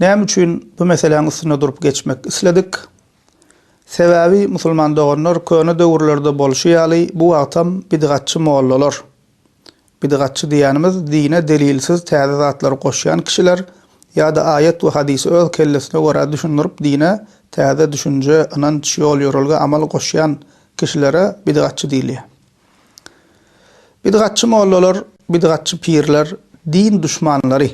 Näme üçin bu meseläň üstünde durup geçmek isledik? Sebäbi musulman doganlar köne döwürlerde bolşy ýaly bu wagtam bidgatçy mollalar, bidgatçy diýýänimiz dine delilsiz täze zatlary goşýan kişiler ýa-da aýat we hadysy öz kellesine görä düşündirip dine täze düşünje, ynanç, ýol-ýörelge, amal goşýan kişilere bidgatçy diýilýär. Bidgatçy mollalar, bidgatçy pirler din duşmanlary.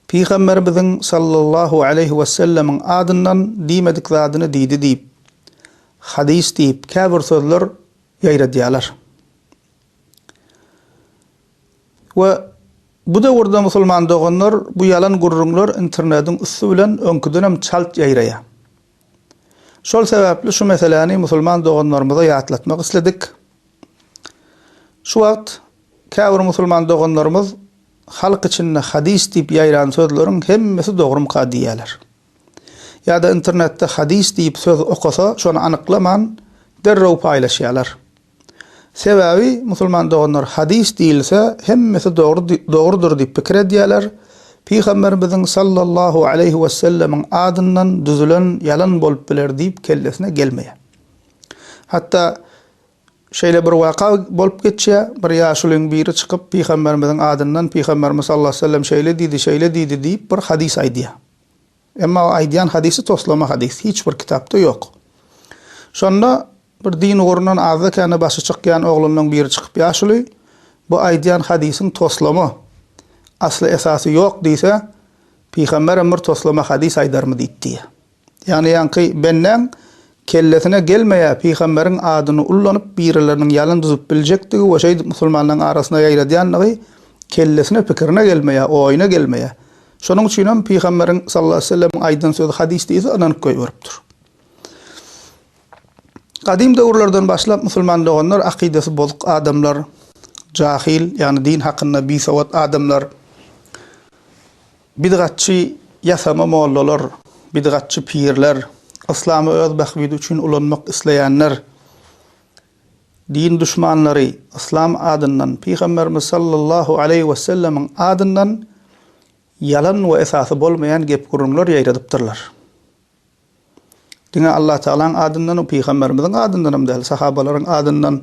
Pygamberimiziň sallallahu aleýhi wesellemiň adyndan diýmedik zadyny diýdi diýip, hadys diýip käbir sözler ýaýradýarlar. We bu döwürde musulman doganlar bu ýalan gürrüňler internediň üsti bilen öňküdenem çalt ýaýraýar. Şol sebäpli şu meseläni musulman doganlarymyza ýatlatmak isledik. Şu wagt käbir musulman doganlarymyz halk içinde hadys diýip ýaýran sözleriň hemmesi dogrumyka diýýärler. Ýa-da internetde hadys diýip söz okasa, şony anyklaman, derrew paýlaşýarlar. Sebäbi musulman doganlar hadys diýilse hemmesi dogry dogrudyr diýip pikir edýäler, pygamberimiziň sallallahu aleýhi wesellemiň adyndan düzülen ýalan bolup biler diýip kellesine gelmeýär. Hatda şeýle bir waka bolup geçýär, bir ýaşulyň biri çykyp pygamberimiziň adyndan pygamberimiz sallallahu aleýhi wesellem şeýle diýdi, şeýle diýdi diýip bir hadys aýdýar. Emma o aýdýan hadysy toslama hadys, hiç bir kitapda ýok. Şonda bir din ugrundan azda-kände başy çykýan oglanlaň biri çykyp ýaşuly, bu aýdýan hadysyň toslama, asly esasy ýok diýse, pygamberem bir toslama hadys aýdarmy diýip diýýär. Ýagny ýaňky bendäň Kellesine gelmeýä pygamberiň adyny ullanyp birileriniň ýalan düzüp biljekdigi we şeýdip musulmanlaryň arasyna ýaýradýandygy kellesine pikirine gelmeýä oýuna gelmeýä şonuň üçinem pygamberiň sallallahu sellemiň aýdan sözi hadys diýse ynanyp goýberipdir. Gadym döwürlerden başlap musulman doganlar akydasy bozuk adamlar, jahyl ýagny din hakynda bisowat adamlar, Bidgatçy ýasama mollalar, bidgatçy pirler, yslamy öz bähbidi üçin ulanmak isleýänler, din duşmanlary yslam adyndan, Pygamberimiz sallallahu aleýhi wesellemiň adyndan ýalan we esasy bolmaýan gep-gürrüňler ýaýradypdyrlar. Diňe Allatagalaň adyndan we pygamberimiziň adyndan hem däl, sahabalaryň adyndan,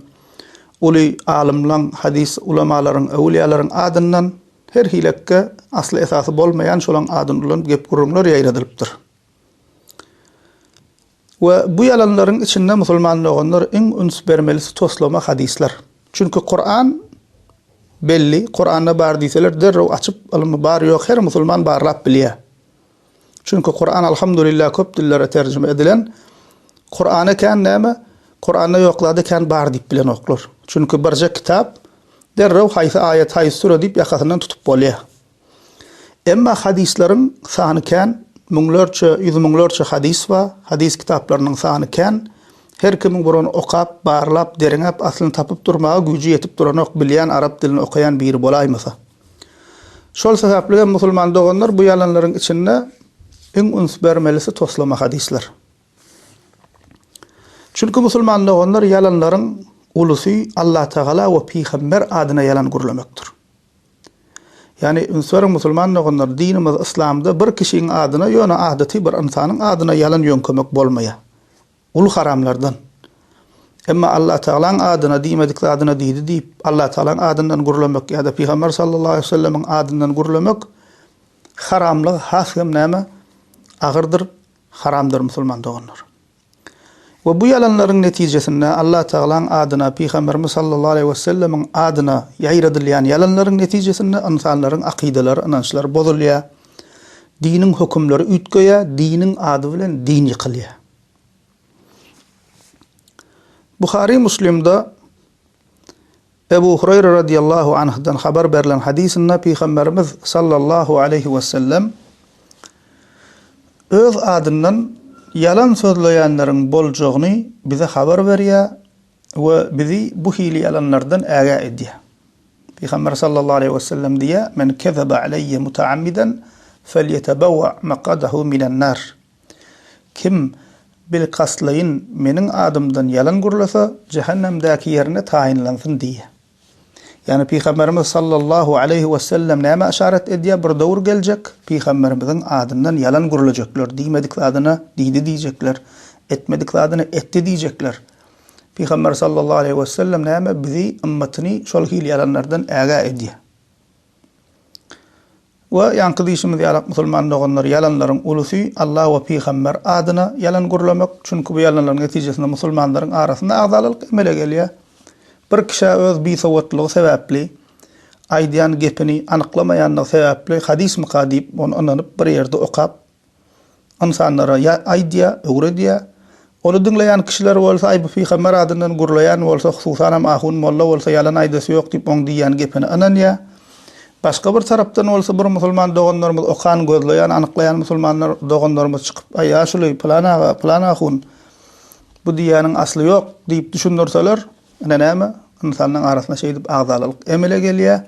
uly alymlaň, hadys ulamalaryň, öwülýalaryň adyndan, her hilekge asly-esasy bolmaýan şolaň adyny ulanyp gep-gürrüňler ýaýradylypdyr. We bu ýalanlaryň içinde musulman doganlar iň üns bermelisi toslama hadyslar. Çünki Kuran belli, Kuranda bar diýseler derrew açyp ylmy bar ýok her musulman barlap bilýär. Çünki Kuran Alhamdulillah köp dillere terjime edilen. Kurana kän näme? Kuranda ýok zady kän bar diýip bilenoklar. Çünki birje kitap derrew haýsy aýat, haýsy süre diýip ýakasyndan tutup bolýar. Emma hadyslaryň sany kän, müňlerçe, ýüz müňlerçe hadys bar. Hadys kitaplarynyň sany kän. Her kimiň bir ony okap, barlap, derňäp, aslyny tapyp durmaga güýji ýetip duranok, bilýän arap dilini okaýan biri bolaýmasa. Şol sebäpli hem musulman doganlar bu ýalanlaryň içinde iň üns bermelisi toslama hadyslar. Çünki musulman doganlar ýalanlaryň ulusy Allatagala we pygamber adyna ýalan gürlemekdir. Ýagny üns beriň musulman doganlar dinimiz yslamda bir kişiň adyna ýöne adaty bir ynsanyň adyna ýalan ýöňkemek bolmaýar. Gul haramlardan. Emma Allatagalaň adyna diýmedik zadyna diýdi diýip, Allatagalaň adyndan gürlemek ýa-da Pygamber sallallahu aleýhi we sellemiň adyndan gürlemek haramlygy has hem näme, agyrdyr, haramdyr musulman doganlar. We bu ýalanlaryň netijesinde Allatagalaň adyna, Pygamberimiz sallallahu aleýhi we sellemiň adyna ýaýradylýan ýalanlaryň netijesinde ynsanlaryň akydalary, ynançlary bozulýar, diniň hökümleri üýtgeýär, diniň ady bilen din ýykylýar. Buhary Muslimde Ebu Hureýre radiyallahu anhdan habar berlen hadysynda Pygamberimiz sallallahu aleýhi we sellem öz adyndan ýalan sözleýänleriň boljagyny bize habar berýär we bizi bu hili ýalanlardan ägä edýär. Pygamber sallallahu aleýhi we sellem diýýär, Men kezebe aleýe mutaammiden felýetebewa makadahu minenar. Kim bilkastlaýyn Meniň adymdan ýalan gürlese, jähennemdäki ýerine taýynlansyn diýýär. Ýagny Pygamberimiz sallallahu aleýhi wesellem nämä yşarat edýär, bir döwür geljek, Pygamberimiziň adyndan ýalan gürlejekler, diýmedik zadyna diýdi diýjekler, etmedik zadyna etdi diýjekler. Pygamber sallallahu aleýhi wesellem näme bizi, ymmatyny şol hili ýalanlardan ägä edýär. We ýaňky diýşimiz ýalak musulman doganlar ýalanlaryň ulusy Allah we pygamber adyna ýalan gürlemek, çünki bu ýalanlaryň netijesinde musulmanlaryň arasynda agzalalyk emele gelýär. Bir kişä öz bisowatlygy sebäpli, aýdýan gepini anyklamaýanlygy sebäpli hadysmyka diýip ony ynanyp bir ýerde okap, ynsanlara ýa aýdýar, öwredýär. Ony diňleýän kişiler bolsa aý bu pygamber adyndan gürleýän bolsa, hususanam ahun molla bolsa ýalan aýdasy ýok diýip oň diýýän gepine ynanýar. Başga bir tarapdan bolsa bir musulman doganlarymyz okan, gözleýän, anyklaýan musulmanlar doganlarymyz çykyp aý ýaşuly, pylan aga, pylan ahun bu diýýäniň asly ýok diýip düşündirseler, ine näme, ynsanlaň arasyna şeýdip agzalalyk emele gelýär.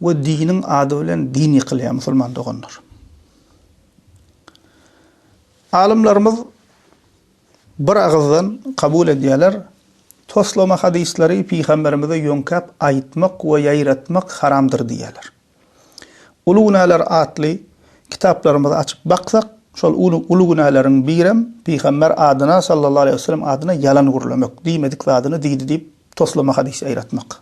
We diniň ady bilen din ýykylýar musulman doganlar. Alymlarymyz bir agyzdan kabul edýärler, toslama hadyslary pygamberimize ýöňkäp aýtmak we ýaýratmak haramdyr diýýärler. Uly günäler atly kitaplarymyzy açyp baksak, şol uly günäleriň birem pygamber adyna sallallahu aleýhi weselem adyna ýalan gürlemek, diýmedik zadyny diýdi diýip toslama hadys ýaýratmak.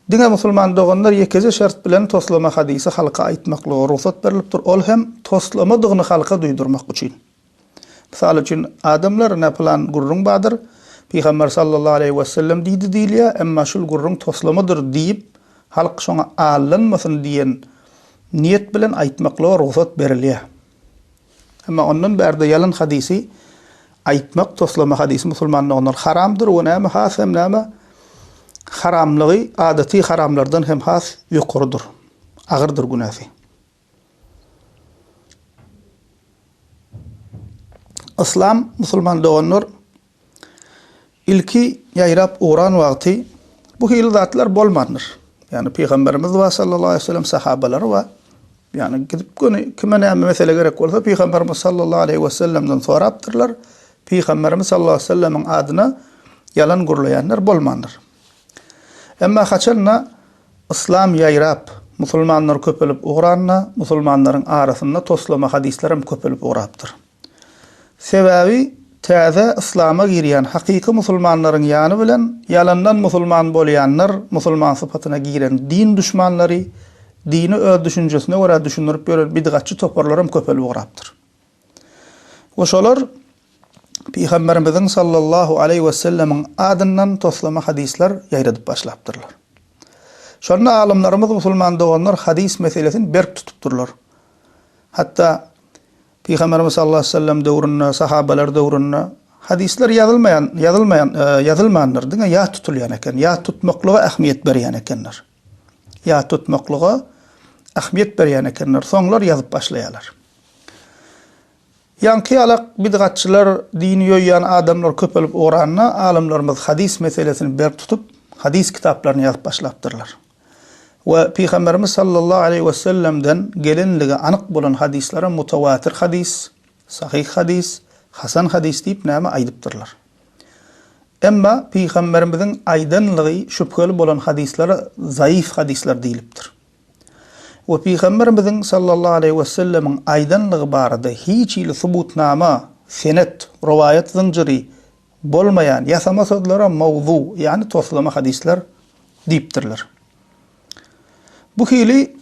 Diňe musulman doganlar ýekeje şert bilen toslama hadysy halka aýtmaklyga rugsat berlipdir, ol hem toslamadygyny halka duýdurmak üçin. Mysal üçin, adamlar, Ine, pylan gürrüň bardyr, Pygamber sallallahu aleýhi wesellem diýdi diýilýär, emma şul gürrüň toslamadyr diýip, halk şoňa aldanmasyn diýen niýet bilen aýtmaklyga rugsat berilýär. Emma ondan bärde ýalan hadysy aýtmak, toslama hadysy musulman doganlar haramdyr we näme has hem näme haramlygy adaty haramlardan hem has ýokarydyr, agyrdyr günäsi. Yslam musulman doganlar Ilki ýaýrap ugran wagty bu hili zatlar bolmandyr. Ýagny Pygamberimiz we sallallahu aleýhi we sellem sahabalary we ýagny gidip göni kime näme mesele gerek bolsa Pygamberimiz sallallahu aleýhi we sellemden sorapdyrlar. Pygamberimiz sallallahu aleýhi we sellemiň adyna ýalan gürleýänler bolmandyr. Emma haçanda yslam ýaýrap, musulmanlar köpelip ugranda, musulmanlaryň arasynda toslama hadyslar hem köpelip ugrapdyr. Sebäbi täze yslama girýän hakyky musulmanlaryň ýany bilen ýalandan musulman bolýanlar musulman sypatyna giren din duşmanlary, dini öz düşünjesine görä düşündirip ýören bidgatçy toparlaram köpelip ugrapdyr. We şolar Pygamberimiziň sallallahu aleýhi wesellemiň adyndan toslama hadyslar ýaýradyp başlapdyrlar. Şonda alymlarymyz musulman doganlar hadys meselesini berk tutupdyrlar. Hatda Pygamberimiz sallallahu aleýhi we sellem döwründe, sahabeler döwründe hadyslar ýazylmaýan, ýazylmaýan, ýazylmandyr, diňe ýat tutulýan eken, ýat tutmaklyga ähmiýet berýän ekenler. Ýat tutmaklyga ähmiýet berýän ekenler, soňlar ýazyp başlaýarlar. Ýaňky ýalak bidgatçylar, dini ýoýýan adamlar köpelip ugranda, alymlarymyz hadys meselesini berk tutup, hadys kitaplaryny ýazyp başlapdyrlar. we Pygamberimiz sallallahu aleýhi we sellemden gelenligi anyk bolan hadyslara mutawatir hadys, sahyh hadys, hasan hadys diýip näme aýdypdyrlar. Emma Pygamberimiziň aýdanlygy şübheli bolan hadyslara zaýyf hadyslar diýlipdir. We Pygamberimiziň sallallahu aleýhi we sellemiň aýdanlygy barada hiç hili subutnama, senet, rowaýat zynjyry, Bolmaýan, ýasama sözlere mawzu, ýagny toslama hadyslar diýipdirler. Bu hili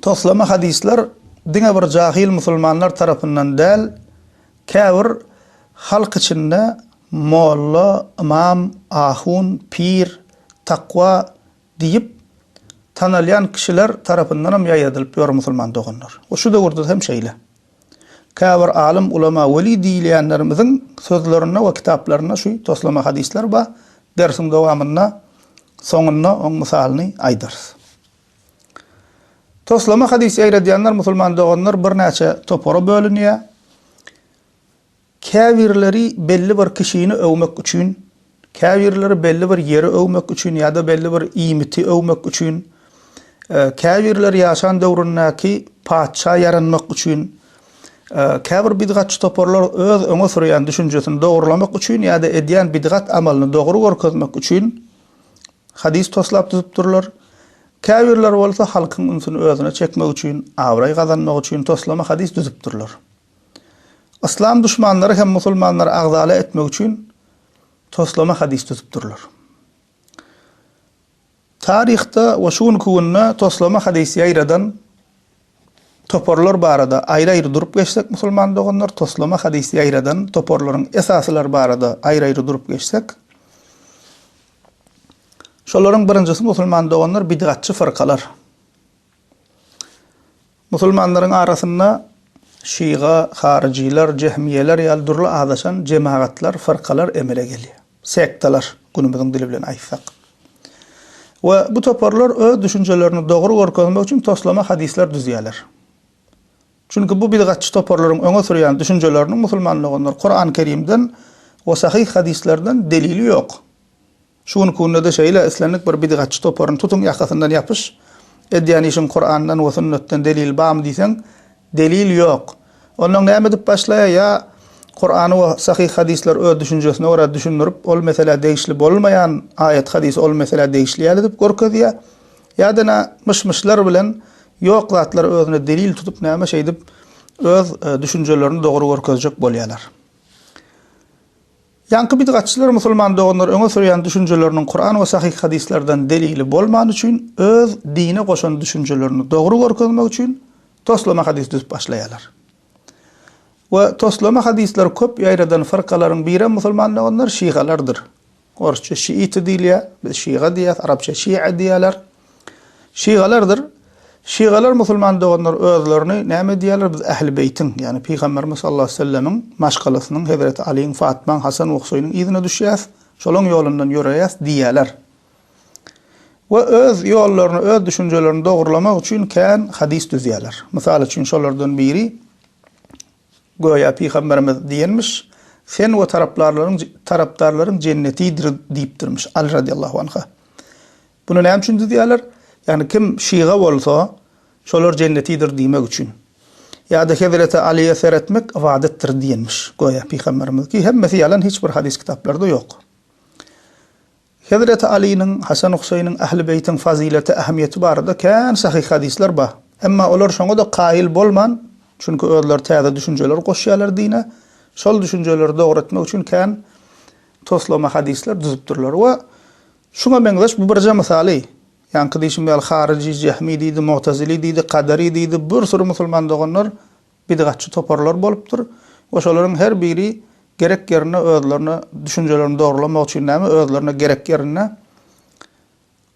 toslama hadyslar diňe bir jahyl musulmanlar tarapyndan däl, käbir halk içinde molla, ymam, ahun, pir, takwa diýip tanalýan kişiler tarapyndanam ýaýradylyp ýör musulman doganlar. Şu döwürde hem şeýle. Käbir alym, ulema, weli diýilýänlerimiziň sözlerinde we kitaplarynda şu toslama hadyslar bar, dersiň dowamynda soňunda oň mysalyny aýdarys. Toslama hadys ýaýradýanlar musulman doganlar birnäçe topara bölünýär. Käbirleri belli bir kişini öwmek üçin, käbirleri belli bir ýeri öwmek üçin ýa-da belli bir iýmiti öwmek üçin, käbirleri ýaşan döwründäki patyşa ýaranmak üçin, käbir bidgatçy toparlar öz öňe sürýän düşünjesini dogrulamak üçin ýa-da edýän bidgat amalyny dogry görkezmek üçin hadys toslap düzüpdirler, käbirleri bolsa halkyň ünsüni özüne çekmek üçin, abraý gazanmak üçin toslama hadys düzüpdirler. Yslam duşmanlary hem musulmanlary agzala etmek üçin toslama hadys düzüpdirler. Taryhda we şu günki günde toslama hadys ýaýradan toparlar barada aýry-aýry durup geçsek musulman doganlar, toslama hadys ýaýradan toparlaryň esasylary barada aýry-aýry durup geçsek, şolaryň birinjisi musulman doganlar bidgatçy fyrkalar. Musulmanlaryň arasynda şyga, haryjylar, jehmiýeler ýaly dürli azaşan jemagatlar, fyrkalar emele gelýär. Sektalar, günümiziň dili bilen aýtsak. We bu toparlar öz düşünjelerini dogry görkezmek üçin toslama hadyslar düzýärler. Çünki bu bidgatçy toparlaryň öňe sürýän düşünjeleriniň musulman doganlar Kurany Kerimden we sahyh hadyslardan delili ýok. Şu günki günde-de şeýle, islendik bir bidgatçy toparyny tutuň ýakasyndan ýapyş, edýän işiň Kurandan we sünnetden delil barmy diýseň, delil ýok. Onnoň näme edip başlaýa, ýa Kurany we sahyh hadyslar öz düşünjesine görä düşündirip, ol meselä degişli bolmaýan aýat hadysy ol meselä degişli ýaly edip görkezýä, ýa-da nä myş-myşlar bilen ýok zatlary özüne delil tutup näme şeýdip öz düşünjelerini dogry görkezjek bolýalar. Ýaňky bidgatçylar musulman doganlar öňe sürýän düşünjeleriniň Kuran we sahyh hadyslardan delili bolmany üçin öz dine goşan düşünjelerini dogry görkezmek üçin toslama hadys düzüp başlaýarlar. We toslama hadyslary köp ýaýradan fyrkalaryň birem musulman doganlar şigalardyr. Orsça şiiti diýilýär, biz şiga diýýäs, arapça şi'a diýýärler. Şygalardyr. Şygalar musulman doganlar özlerini näme diýýärler? Biz Ähli Beýtiň, ýagny Pygamberimiz sallallahu aleýhi we sellemiň maşgalasynyň, Hezreti Aliň, Fatmaň, Hasan we Husaýnyň yzyna düşýäs, şolaň ýolundan ýöreýäs diýýärler. We öz ýollaryny, öz düşünjelerini dogrulamak üçin kän hadys düzýärler. Mysal üçin, şolardan biri, göýä Pygamberimiz diýenmiş, Sen we taraplarlaryň, tarapdarlaryň jennetidir diýipdirmiş, Aly radyllahu anha. Muny näme üçin düzýärler? Ýagny kim şyga bolsa, şolar jennetidir diýmek üçin. Ýa-da Hezreti Alyýa seretmek ybadatdyr diýenmiş, göýä, pygamberimiz. Ki hemmesi ýalan, hiç bir hadys kitaplarda ýok. Hezreti Alynyň, Hasan Huseýniň, Ähli Beýtiň fazyleti, ähmiýeti barada kän sahyh hadyslar bar. Emma olar şoňa-da kaýyl bolman, çünki özleri täze düşünjeler goşýarlar dine, şol düşünjeleri dogry etmek üçin kän toslama hadyslar düzüpdirler we Şuňa meňzeş bu birje mysaly. Ýaňky diýşim ýaly haryjy, jehmi diýdi, mu'tezili diýdi, kadary diýdi, bir süri musulman doganlar bidgatçy toparlar bolupdyr we şolaryň her biri gerek ýerinde özlerine düşünjelerini dogrulamak üçin näme özlerine gerek ýerinde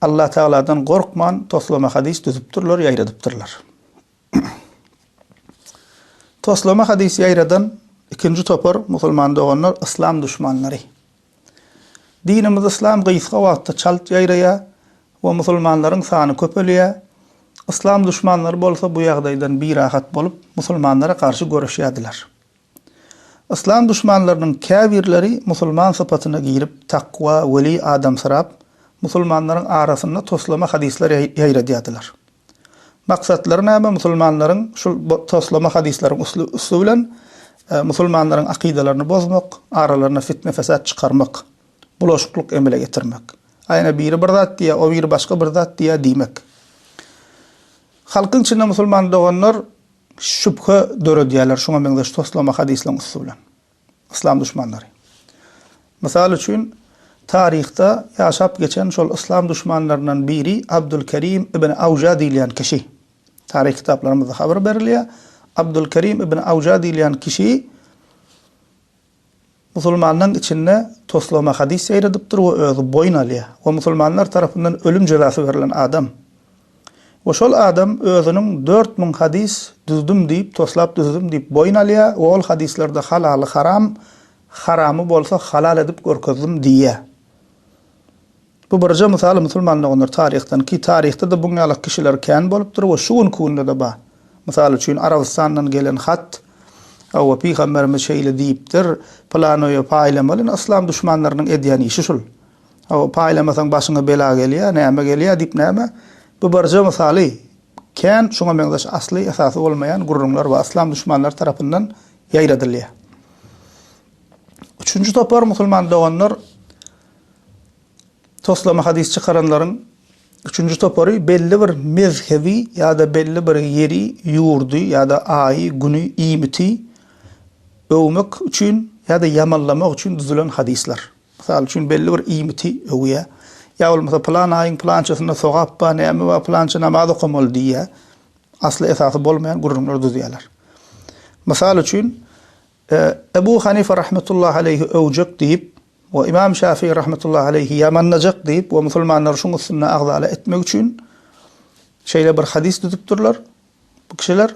Allatagaladan gorkman toslama hadys düzüpdirler, ýaýradypdyrlar. Toslama hadys ýaýradan ikinji topar musulman doganlar yslam duşmanlary. Dinimiz yslam gysga wagtda çalt ýaýraýar we musulmanlaryň sany köpelýär, yslam duşmanlary bolsa bu ýagdaýdan birahat bolup musulmanlara garşy göreşýärdiler. Yslam duşmanlarynyň käbirleri musulman sypatyna girip takwa, weli adamsyrap, musulmanlaryň arasynda toslama hadyslar ýaýradýardylar. Maksatlary näme musulmanlaryň şul toslama hadyslaryň üsti bilen musulmanlaryň akydalaryny bozmak, aralaryna fitne-fesat çykarmak, bulaşyklyk emele getirmek. Aýna biri bir zat diýýär, o biri başga bir zat diýýär diýmek. Halkyň içinde musulman doganlar şübhe döredýärler şuňa meňzeş toslama hadyslaryň üsti bilen. yslam duşmanlary. Mysal üçin, taryhda ýaşap geçen şol yslam duşmanlaryndan biri Abdulkerim ibn Awja diýilýän kişi. Taryh kitaplarymyzda habar berilýär. Abdulkerim ibn Awja diýilýän kişi musulmanlaryň içinde toslama hadys ýaýradypdyr we özi boýun alýar we musulmanlar tarapyndan ölüm jezasy berlen adam. We şol adam özüniň dört müň hadys düzdüm diýip, toslap düzdüm diýip boýun alýar we ol hadyslarda halaly haram, haramy bolsa halal edip görkezdim diýýär. Bu birje mysal musulman doganlar taryhdan ki taryhda-da buň ýalak kişiler kän bolupdyr we şu günki günde-de bar. Mysal üçin Arabystandan gelen hat, Hawa pygamberimiz şeýle diýipdir, pylany paýlamaly, ine yslam duşmanlarynyň edýän işi şul. Hawa, paýlamasaň başyňa bela gelýär, näme gelýär diýip näme? Bu birje mysaly. Kän şuňa meňzeş asly, esasy bolmaýan gürrüňler we yslam duşmanlary tarapyndan ýaýradylýar. Üçünji topar musulman doganlar toslama hadys çykaranlaryň üçünji topary belli bir mezhebi ýa-da belli bir ýeri, ýurdy ýa-da aýy, güni, iýmiti öwmek üçin ýa-da ýamanlamak üçin düzülen hadyslar. Mysal üçin, belli bir iýmiti öwýär. Ýa bolmasa pylan aýyň pylançasynda sogap bar, näme bar, pylança namaz okamaly diýýär. Asly esasy bolmaýan gürrüňler düzýärler. Mysal üçin, Ebu Hanife rahmetullahi aleýhi öwjek diýip we Ymam Şafii rahmetullahi aleýhi ýamanlajak diýip we musulmanlary şuň üstünde agzala etmek üçin şeýle bir hadys düzüpdirler bu kişiler.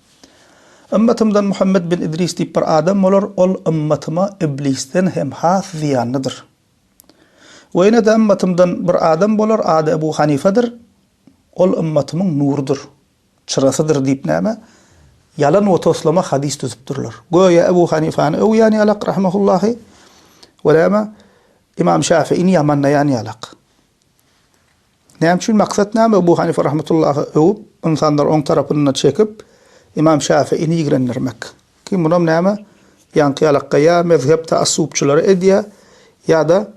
Ymmatymdan Muhammet bin Idris diýip bir adam bolar, ol ymmatyma iblisden hem has zyýanlydyr. We ýene-de ymmatymdan bir adam bolar, ady Ebu Hanifedir, ol ymmatymyň nurudyr, çyrasydyr diýip näme, ýalan we toslama hadys düzüpdirler. Göýä Ebu Hanifäni öwýän ýalak, rahimehullahu, we näme, Ymam Şäfiini ýamanlaýan ýalak. Näme üçin maksat näme Ebu Hanife rahmetullahy öwüp ynsanlary oň tarapyna çekip Imam Şäfiini ýigrendirmek. Kim bunam näme ýaňky ýalakka ýa mezhep taassubçylary edýä ýada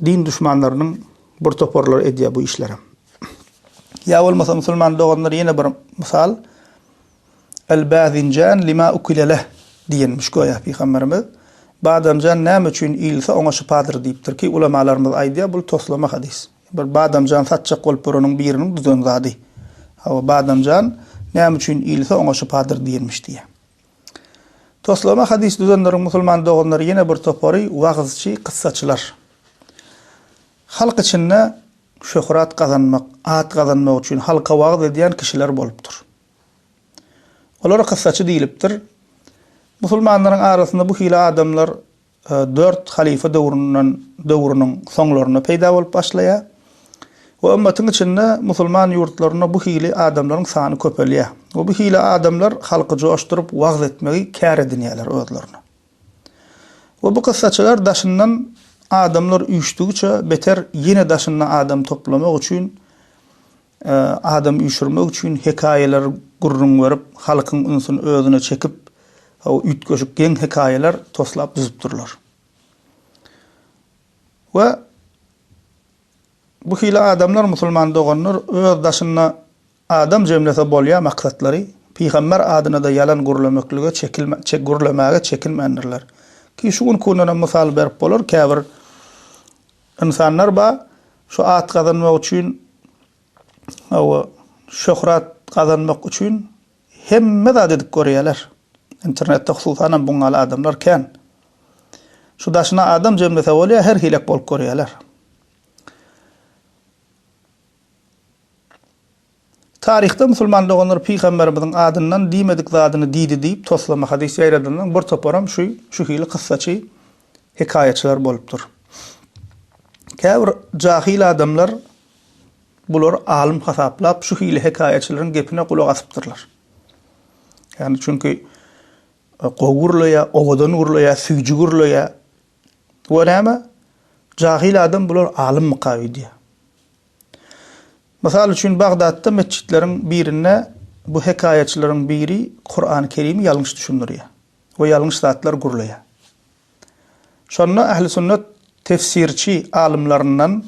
din duşmanlarynyň bir toparlary edýä bu işlerem. Ýa bolmasa musulman doganlar ýene bir mysal. Al-Bazinjan lima ukile leh, diýenmiş göýä Pygamberimiz. Badamjan näme üçin iýilse oňa şypadyr diýipdir ki, ulamalarymyz aýdýar, bul toslama hadys. Bir badamjan satjak bolup ýöreniň biriniň düzen zady. Hawa, badamjan näme üçin iýilse oňa şypadyr diýenmiş diýýär. Toslama hadys düzenleriň musulman doganlary ýene bir topary wagyzçy, kyssaçylar. Halk içinde şöhrat gazanmak, at gazanmak üçin halka wagyz edýän kişiler bolupdyr. Olara kyssaçy diýlipdir. Musulmanlaryň arasynda bu hili adamlar dört halyfa döwründen döwrüniň soňlarynda peýda bolup başlaýar we ümmetiň içinde musulman ýurtlarynda bu hili adamlaryň sany köpelýär we bu hili adamlar halky joşduryp wagyz etmegi kär edinýärler özlerine. We bu kyssaçylar daşyndan adamlar üýşdigiçe beter ýene daşyna adam toplamak üçin Adam üýşürmek üçin hekaýalar gürrüň berip, halkyň ünsüni özüne çekip, üýtgeşik geň hekaýalar toslap düzüpdirler. We bu hili adamlar, musulman doganlar, öz daşynda adam jemlese bolýan maksatlary, pygamber adyna-da ýalan gürlemeklige çekilmän, gürlemäge çekinmändirler. Ki şu günkundanam mysal berip bolar, käbir, Ynsanlar ba şu at gazanmak üçin hawa şöhrat gazanmak üçin hemme zat edip görýäler. Internetde hususanam buň ýaly adamlar kän. Şu daşyna adam jemlese bolýa her hilek bolup görýäler. Taryhda musulman doganlar pygamberimiziň adyndan diýmedik zadyny diýdi diýip toslama hadys ýaýradanlaryň bir toparam şu şu hili kyssaçy, hekaýaçylar bolupdyr. Käbir jahyl adamlar bulary alym hasaplap şu hili hekaýaçylaryň gepine gulak asypdyrlar. Ýagny çünki gowy gurlaýar, owadan gurlaýar, süýji gurlaýar. Bu näme? Jahyl adam bular alymmyka öýdýär. Mysal üçin, Bagdatda metjitleriň birinde bu hekaýaçylaryň biri Kurany Kerimi ýalňyş düşündirýär we ýalňyş zatlar gürleýär. Şonda Ähli Sünnet tefsirçi alymlaryndan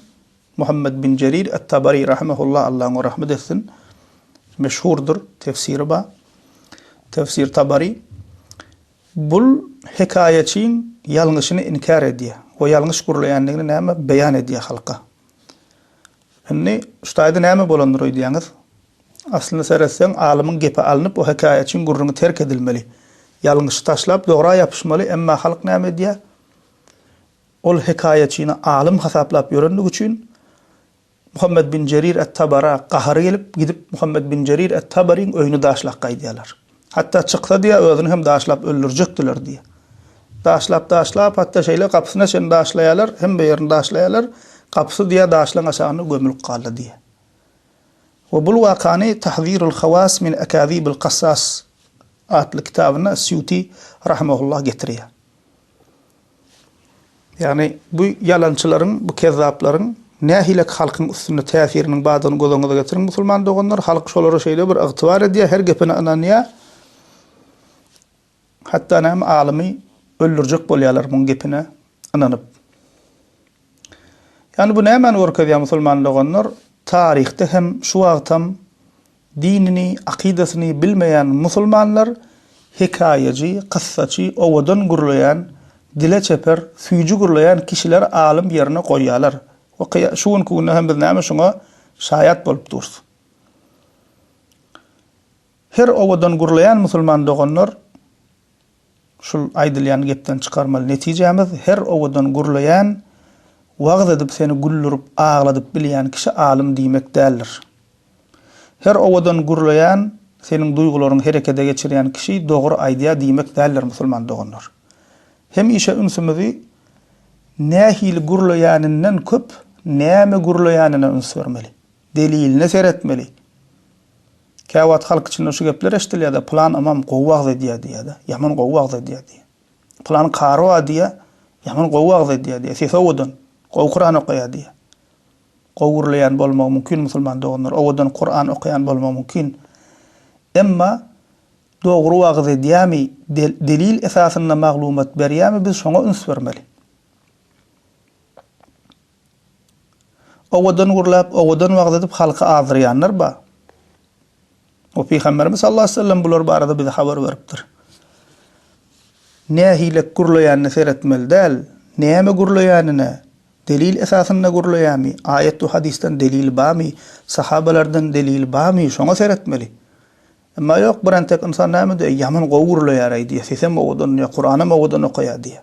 Muhammet bin Jerir et-Tabari rahimehullah, Allah oňa rahmet etsin, meşhurdyr, tefsiri bar, Tefsir Tabari, bul hekaýaçyň ýalňyşyny inkär edýär we ýalňyş gürleýändigini näme beýan edýär halka. Indi şu taýda näme bolandyr öýdýäňiz? Aslynda seretseň, alymyň gepi alnyp, o hekaýaçyň gürrüňi terk edilmeli. Ýalňyşy taşlap, dogra ýapyşmaly, emma halk näme edýär? Ol hekaýaçyny alym hasaplap ýörendigi üçin Muhammet bin Jerir et-Tabara gahary gelip, gidip Muhammet bin Jerir et-Tabaryň öýüni daşlak gaýdýarlar. Hatda çyksa diýýär, özüni hem daşlap öldürjekdiler diýýär. Daşlap, daşlap, hatda şeýle gapysyna çenli daşlaýarlar, hemme ýerini daşlaýarlar, gapysy diýýär daşlaryň aşagynda gömülip galdy diýýär. We bul wakany Tahzirul hawas min akazibil kassas atly kitabynda Sýuti rahimehullah getirýär. Ýagny, bu ýalançylaryň, bu kezzaplaryň nähilek halkyň üstünde täsiriniň bardygyny göz öňüňize getiriň, musulman doganlar. Halk şolara şeýle bir ygtybar edýär, her gepine ynanýar. Hatda näme, alymy öldürjek bolýarlar muň gepine ynanyp. Ýagny, bu nämäni görkezýär, musulman doganlar? Taryhda hem, şu wagtam Dinini, akydasyny bilmeýän musulmanlar hekaýajy, kyssaçy, owadan gürleýän, dile çeper, süýji gürleýän kişileri alym ýerine goýýarlar we kyýa şu günki günde hem biz näme şuňa şaýat bolup durus. Her owadan gürleýän musulman doganlar Şul aýdylýan gepden çykarmaly netijämiz her owadan gürleýän, wagyz edip seni güldürip agladyp bilýän kişi alym diýmek däldir. Her owadan gürleýän, seniň duýgularyňy herekede geçirýän kişi dogry aýdýar diýmek däldir musulman doganlar. Hemişe ünsümizi nähili gürleýäninden köp näme gürleýänine üns bermeli. deliline seretmeli. Käwagt halk içinde şu gepler eşdilýär-de, pylan ymam gowy wagyz edýär diýýär-de, ýaman gowy wagyz edýär diýýär. Pylan kary bar diýýär, ýaman gowy wagyz edýär diýýär, sesi owadan, gowy Kuran okaýar diýýär. Gowy gürleýän bolmagy mümkin musulman doganlar, owadan Kuran okaýan bolmagy mümkin. Emma dogry wagyz edýärmi, delil esasynda maglumat berýärmi biz şoňa üns bermeli. Owadan gürläp, owadan wagyz edip halky azdyrýanlar bar. We Pygamberimiz sallallahu aleýhi we sellem bular barada bize habar beripdir. Nähilek gürleýänine seretmeli däl, näme gürleýänine, delil esasynda gürleýärmi, aýat we hadysdan delil barmy, sahabalardan delil barmy, şoňa seretmeli. Emma ýok, birentek ynsan näme diýýär, ýaman gowy gürleýär-eý diýýär, sesem owadan diýýär, Kuranam owadan okaýar diýýär.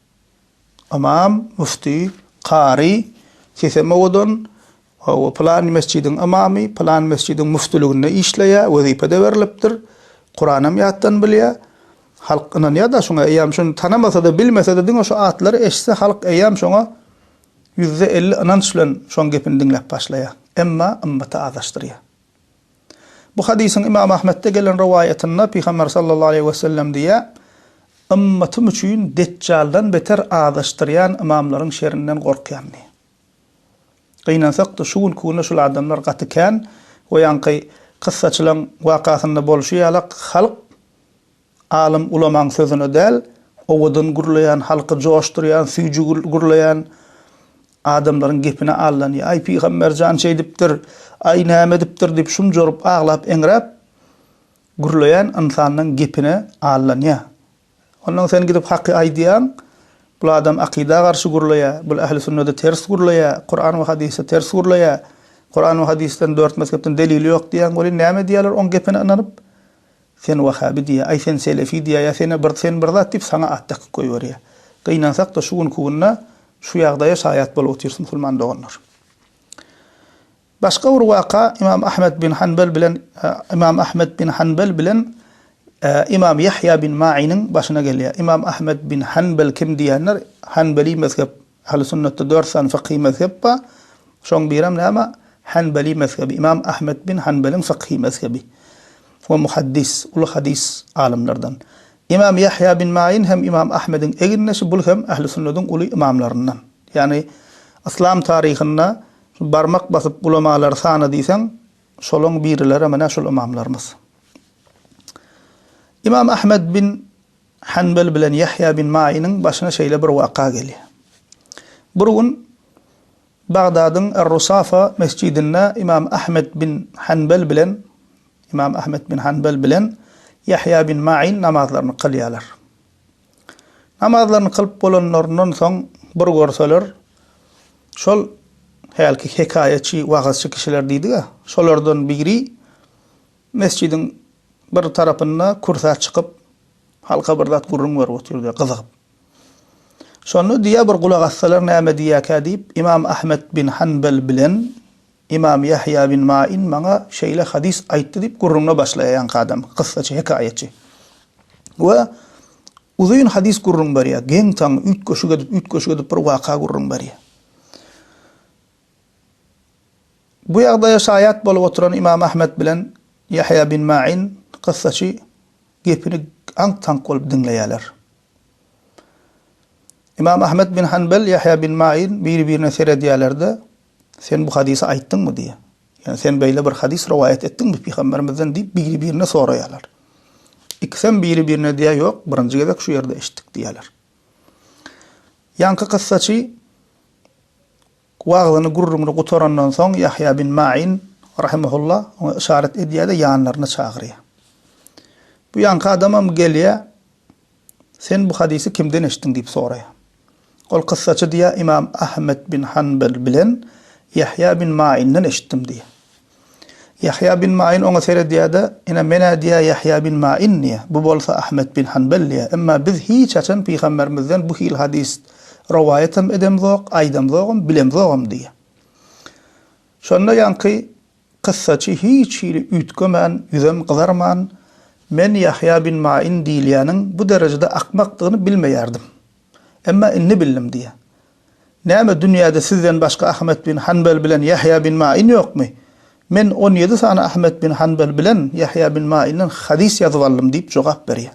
Ymam, müfti, kary, sesem owadan, hawa, pylan mesjidiň ymamy, pylan mesjidiň müftiliginde işleýär, wezipe-de berlipdir, Kuranem ýatdan bilýär. Halk ynanýar-da şuňa, eýýäm şuny tanamasa-da, bilmese-de, diňe şu atlary eşitse, halk eýýäm şoňa ýüzde elli ynanç bilen şoň gepini diňläp başlaýar. Emma ymmaty azaşdyrýar. Bu hadysyň Ymam Ahmetde gelen rowaýatynda Pygamber sallallahu aleýhi we sellem diýýär, Ymmatym üçin Detjaldan beter azaşdyrýan ymamlaryň şerinden gorkýan diýýär. Gynansak-da, şu günki günde şul adamlar gaty kän we ýaňky kyssaçylaň wakasynda bolşy ýalak halk, Alym ulamaň sözüne däl, owadan gürleýän, halky joşdurýan, süýji gürleýän adamlaryň gepine aldanýar. Aý, pygamber jan şeýdipdir, aý, näme edipdir diýip şumjuryp, aglap-eňräp gürleýän ynsanlaň gepine aldanýar. Onnoň sen gidip haky aýdýaň, bul adam akyda garşy gürleýär, bul ähli sünnede ters gürleýär, Kuran we hadysda ters gürleýär, Kuran we hadysdan dört mezhepden delili ýok diýýäň, welin näme edýärler oň gepine ynanyp? Sen wahabi diýýä, aý sen selefi diýýä, ýa sen-ä bir sen bir zat diýip saňa at dakyp goýberýä. Gynansak-da şu günki günde şu ýagdaýa şaýat bolup otyrys musulman doganlar. Başga bir waka Ymam Ahmet bin Hanbel bilen Ymam Ahmet bin Hanbel bilen Ymam Ýahýa bin Mainiň başyna gelýär. Ymam Ahmet bin Hanbel kim diýenler Hanbeli mezhep Ähli sünnetde dört sany fykhy mezhep bar. Şoň birem näme? Hanbali mezhebi, Imam Ahmet bin Hanbeliň fykhy mezhebi. O muhaddis, uly hadys alymlardan. Imam Ýahýa bin Maýin hem Imam Ahmediň egindeşi, bul hem ähli sünnediň uly ymamlaryndan. Ýagny yslam taryhynda şu barmak basyp ulamalary sana diýseň, şolaň birileri menä şul ymamlarymyz. Imam Ahmet bin. Hanbel bilen Ýahýa bin Maýynyň başyna şeýle bir waka gelýär. Bir gün Bagdadyň Er-Rusafa mesjidinde Ymam Ahmet bin Hanbel bilen Ymam Ahmet bin Hanbel bilen Ýahýa bin Maýyn namazlaryny kylýarlar. Namazlaryny kylyp bolanlaryndan soň bir görseler, şol hälki hekaýaçy, wagyzçy kişiler diýdik-ä, şolardan biri Mesjidiň bir tarapynda kürsä çykyp, halka bir zat gürrüň berip otyrdy, gyzygyp. Şonda diýýär, bir gulak assalar näme diýýärkä diýip, Ymam Ahmet bin Hanbel bilen Ymam Ýahýa bin Main maňa şeýle hadys aýtdy diýip gürrüňine başlaýar ýaňky adam, kyssaçy, hekaýatçy. We uzyn hadys gürrüň berýär, geň-taň, üýtgeşik edip, üýtgeşik edip bir waka gürrüň berýär. Bu ýagdaýa şaýat bolup oturan Ymam Ahmet bilen Ýahýa bin Main kyssaçy gepini aňk-taňk bolup diňleýärler. Ymam Ahmet bin Hanbel, Ýahýa bin Main biri-birine seredýärler-de, Sen bu hadysy aýtdyňmy? diýýär. Ýagny sen beýle bir hadys rowaýat etdiňmi pygamberimizden diýip biri-birine soraýarlar. Ikisem biri-birine diýýär, Ýok, birinji gezek şu ýerde eşitdik diýýärler. Ýaňky kyssaçy Wagyzyny, gürrüňini gutarandan soň, Ýahýa bin Maýin rahimehullah oňa yşarat edýär-de, ýanlaryna çagyrýar. Bu ýaňky adamam gelýär, Sen bu hadysy kimden eşitdiň? diýip soraýar. Ol kyssaçy diýýär, Ymam Ahmet bin Hanbel bilen Ýahýa bin Maýinden eşitdim diýýär. Ýahýa bin Maýin oňa seredýär-de, Ine, men-ä diýýär Ýahýa bin Maýin diýýär, bu bolsa Ahmet bin Hanbel diýýär. Emma biz hiç haçan pygamberimizden bu hili hadys rowaýat hem edemzok, aýdamzogam, bilemzogam diýýär. Şonda ýaňky kyssaçy hiç hili üýtgemän, ýüzem gyzarman, Men Ýahýa bin Maýin diýilýäniň bu derejede akmakdygyny bilmeýärdim. Emma indi bildim diýýär. Näme, dünýäde sizden başga Ahmet bin Hanbel bilen Ýahýa bin Main ýokmy? Men on ýedi sany Ahmet bin Hanbel bilen Ýahýa bin Mainden hadys ýazyp aldym diýip jogap berýär.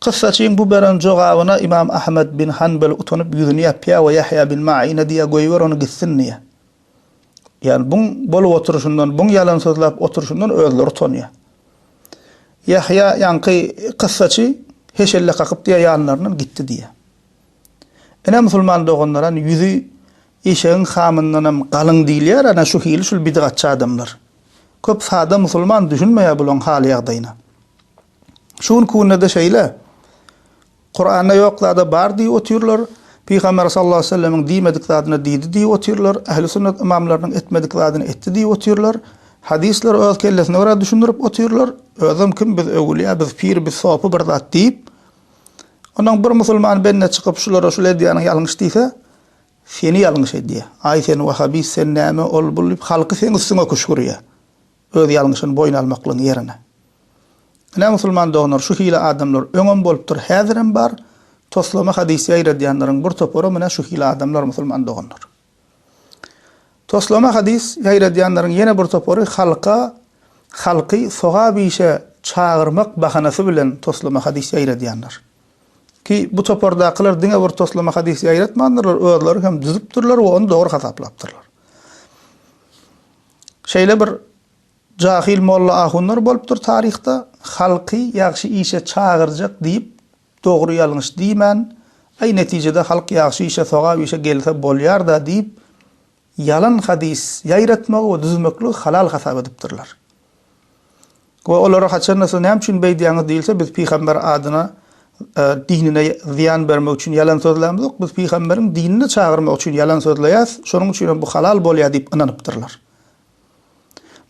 Kyssaçyň bu beren jogabyna Ymam Ahmet bin Hanbel utanyp ýüzüni ýapýar we Ýahýa bin Maine diýýär, Goýber ony gitsin diýýär. Ýagny buň bolup oturyşyndan, buň ýalan sözläp oturyşyndan özleri utanýar. Ýahýa ýaňky kyssaçy heşelle kakyp diýýär ýanlaryndan gitdi diýýär. Ine musulman doganlar ýany ýüzi eşegiň hamyndanam galyň diýilýär ana şu hili şul bidgatçy adamlar. Köp sada musulman düşünmeýär bulaň hal ýagdaýyna. Şu günki günde-de şeýle. Kuranda ýok zada bar diýip otyrlar, Pygamber sallallahu aleýhi we sellemiň diýmedik zadyna diýdi diýip otyrlar, ähli sünnet ymamlarynyň etmedik zadyny etdi diýip otyrlar, hadyslary öz kellesine görä düşündirip otyrlar, özem kim biz öwülýä, biz pir, biz sopy bir zat diýip. Ondan bir musulman bende çykyp şulara şuly edýäniň ýalňyş diýse, seni ýalňyş edýä. Aý sen wahabist, sen näme, ol bul diýip halky seň üstüňe küşgürýä. Öz ýalňyşyny boýun almaklygyň ýerine. Ine musulman doganlar şu hili adamlar öňem bolupdyr häzirem bar toslama hadys ýaýradýanlaryň bir toparam ine şu hili adamlar musulman doganlar. Toslama hadys ýaýradýanlaryň ýene bir topary halka halky sogap işe çagyrmak bahanasy bilen toslama hadys ýaýradýanlar. Ki bu topardakylar diňe bir toslama hadys ýaýratmandyrlar özleri hem düzüpdirler we ony dogry hasaplapdyrlar. Şeýle bir jahil molla ahunlar bolupdyr taryhda, halky ýagşy işe çagyrjak diýip dogry ýalňyş diýmän, aý netijede halk ýagşy işe sogap işe gelse bolýarda diýip ýalan hadys ýaýratmagy we düzmekligi halal hasap edipdirler. We olara haçan-da siz näme üçin beýdýäňiz diýilse, biz pygamber adyna, dinine zyýan bermek üçin ýalan sözlämzok, biz pygamberiň dinine çagyrmak üçin ýalan sözleýäs, şonuň üçin hem bu halal bolýar diýip ynanypdyrlar.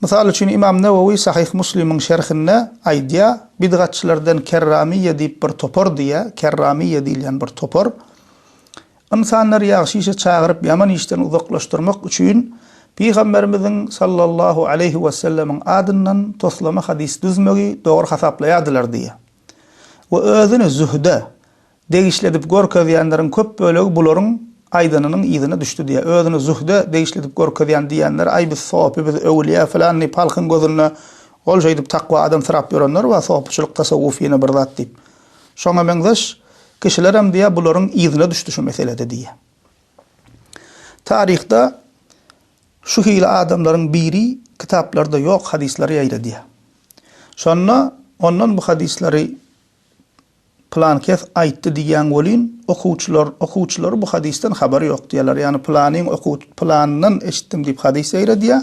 Mysal üçin, Ymam Newewi Sahyh Muslimiň şerhinde aýdýar, Bidgatçylardan kerramyýýe diýip bir topar diýýär, kerramyýýe diýilýän bir topar, Ynsanlary ýagşy işe çagyryp, ýaman işden uzaklaşdyrmak üçin Pygamberimiziň, sallallahu aleýhi wesellemiň, adyndan toslama hadys düzmegi dogry hasaplaýardylar diýýär. We özüni zühde degişli edip görkezýänleriň köp bölegi bularyň aýdanynyň yzyna düşdi diýýär. Özüni zühde degişli edip görkezýän diýýänler, aý biz sopy, biz öwülýä, filanny palkyň gözünde ol şeýdip takwa adamsyrap ýörenler bar, sopyçylyk, tasawwuf ýene bir zat diýip. Şoňa meňzeş kişilerem diýýär, bularyň yzyna düşdi şu meselede diýýär. Taryhda şu hili adamlaryň biri kitaplarda ýok hadyslary ýaýradýar. Şonda ondan bu hadyslary pylan kes aýtdy diýýän welin, okuwçylar, okuwçylary bu hadysdan habary ýok diýýärler. Ýagny pylanyň oku, pylanyndan eşitdim diýip hadys ýaýradýar.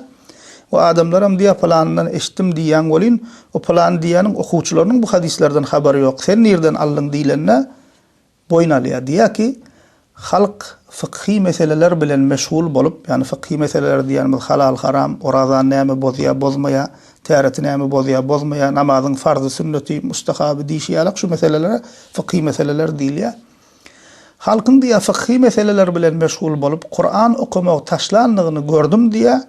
We adamlaram diýýär, Pylanyndan eşitdim diýýäň welin, o pylany diýýäniň okuwçylarynyň bu hadyslardan habary ýok. Sen nirden aldyň diýlende, boýun alýar. Diýýär ki, Halk fykhy meseleler bilen meşgul bolup, ýagny fykhy meseleler diýýänimiz halal-haram, oraza näme bozýar, bozmaýar, täret näme bozýar, bozmaýar, namazyň farzy-sünneti, mustahaby diýşi ýalak şu meselelere fykhy meseleler diýilýär. Halkyň diýýär fykyhy meseleler bilen meşgul bolup Kuran okamagy taşlandygyny gördüm diýýär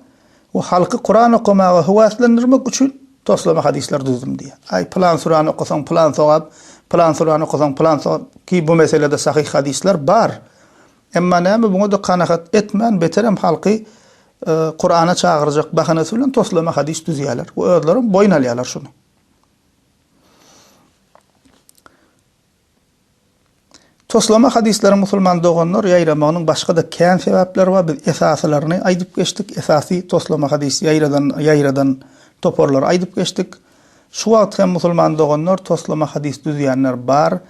we halky Kuran okamaga höwäslendirmek üçin toslama hadyslar düzdüm diýýär. Aý pylan surany okasaň pylan sogap, pylan surany okasaň pylan sogap ki bu meselede sahyh hadyslar bar. Emma näme buňa-da kanagat etmän beterem halky Kurana çagyrjak bahanasy bilen toslama hadys düzýärler we özlerem boýun alýarlar şuny. Toslama hadyslaryň musulman doganlar ýaýramagynyň başga-da kän sebäpleri bar, biz esasylaryny aýdyp geçdik, esasy toslama hadys ýaýradan ýaýradan toparlary aýdyp geçdik. Şu wagt hem musulman doganlar toslama hadys düzýänler bar,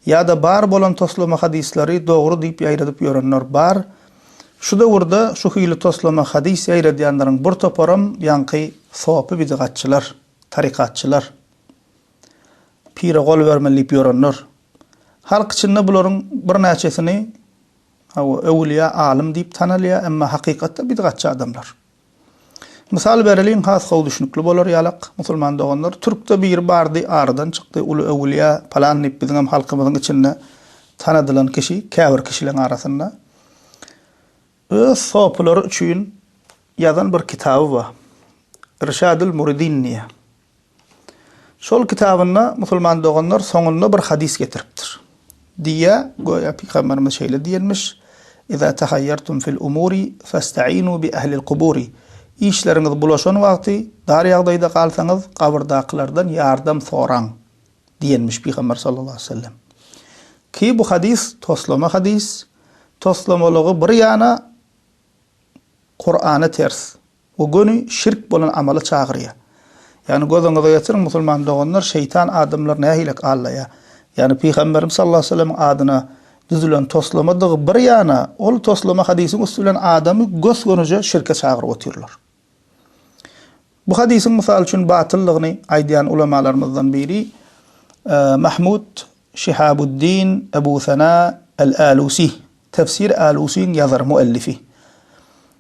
ýa-da bar bolan toslama hadyslary dogry diýip ýaýradyp ýörenler bar. Şu döwürde şu hili toslama hadys ýaýradýanlaryň bir toparam ýaňky sopy-bidygatçylar, tarykatçylar. Pire gol bermeli diýip ýörenler. Halk içinde bularyň birnäçesini, hawa, öwülýä, alym diýip tanalýar, emma hakykatda bidgatçy adamlar. Mysal bereliň, has gowy düşnükli bolar ýalak, musulman doganlar, türkde biri bardy, aradan çykdy, uly öwülýä, palan diýip biziňem halkymyzyň içinde tanadylan kişi, käbir kişileň arasynda öz sopulary üçin ýazan bir kitaby bar. Irşadül Muridin diýýär. Şol kitabynda musulman doganlar soňunda bir hadys getiripdir. Diýýä, göýä pygamberimiz şeýle diýenmiş, Iza tahayyartum fil umuri fasta'inu bi ahlil kuburi. Işleriňiz bulaşan wagty, dar ýagdaýda galsaňyz, gabyrdakylardan ýardam soraň. Diýenmiş pygamber sallallahu aleýhi we sellem. Ki bu hadys toslama hadys. Toslamalygy bir ýana Kur'ana ters. Bu göni şirk bolan amala çagyrýar. Ýagny gözüňize getiriň musulman doganlar şeýtan adamlar nähilek allaýar. Ýagny pygamberimiz sallallahu aleýhi wesellemiň adyna düzülen toslamadygy bir ýana ol toslama hadysyň üsti bilen adamy gös-gönüje şirke çagyryp otyrlar. Bu hadysyň mysal üçin batyllygyny aýdýan ulamalarymyzdan biri Mahmud Şihabuddin Ebu Sena El-Alusi, Tefsir Alusiň ýazary, muellifi.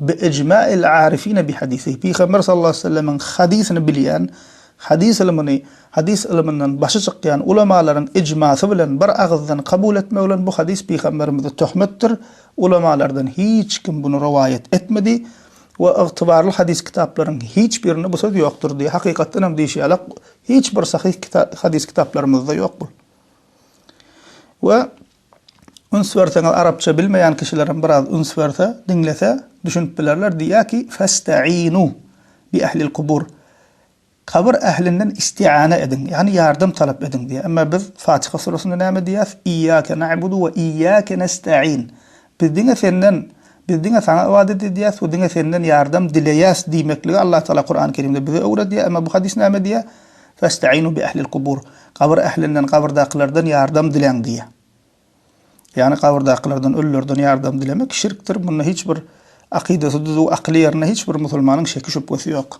Bi ejma'il arifine bi hadisihi, Pygamber sallallahu aleýhi we sellemiň hadysyny bilýän, hadys ylmyny, hadys ylmyndan başy çykýan ulamalaryň ejmasy bilen bir agyzdan kabul etmek bilen bu hadys Pygamberimize töhmetdir, ulamalardan hiç kim buny rowaýat etmedi we ygtybarly hadys kitaplaryň hiç birinde bu söz ýokdur diýýär. Hakykatdan hem diýşi ýaly, hiç bir sahyh hadys kitaplarymyzda ýok bu. We. Üns berseňiz arapça bilmeýän kişilerem biraz üns berse, diňlese, düşünip bilerler, diýýär ki, Festainu bi ehlil kubur. Kabyr ählinden istiana ediň, ýagny ýardam talap ediň diýýär. Emma biz Fatyha suresinde näme diýýäs? Iýake na'budu we iýake nestaîn. Biz diňe senden, biz diňe saňa ybadat edýäs we diňe senden ýardam dileýäs diýmekligi Allahu Taala Kurany Kerimde bize öwredýär. Emma bu hadys näme diýýär? Festa'inu bi ehlil kubur. Gabyr ählinden, gabyrdakylardan ýardam diläň diýýär. Ýagny gabyrdakylardan, ölülerden ýardam dilemek şirkdir. Munda hiç bir akydasy düzüw, akyly ýerinde hiç bir musulmanyň şeki-şübhesi ýok.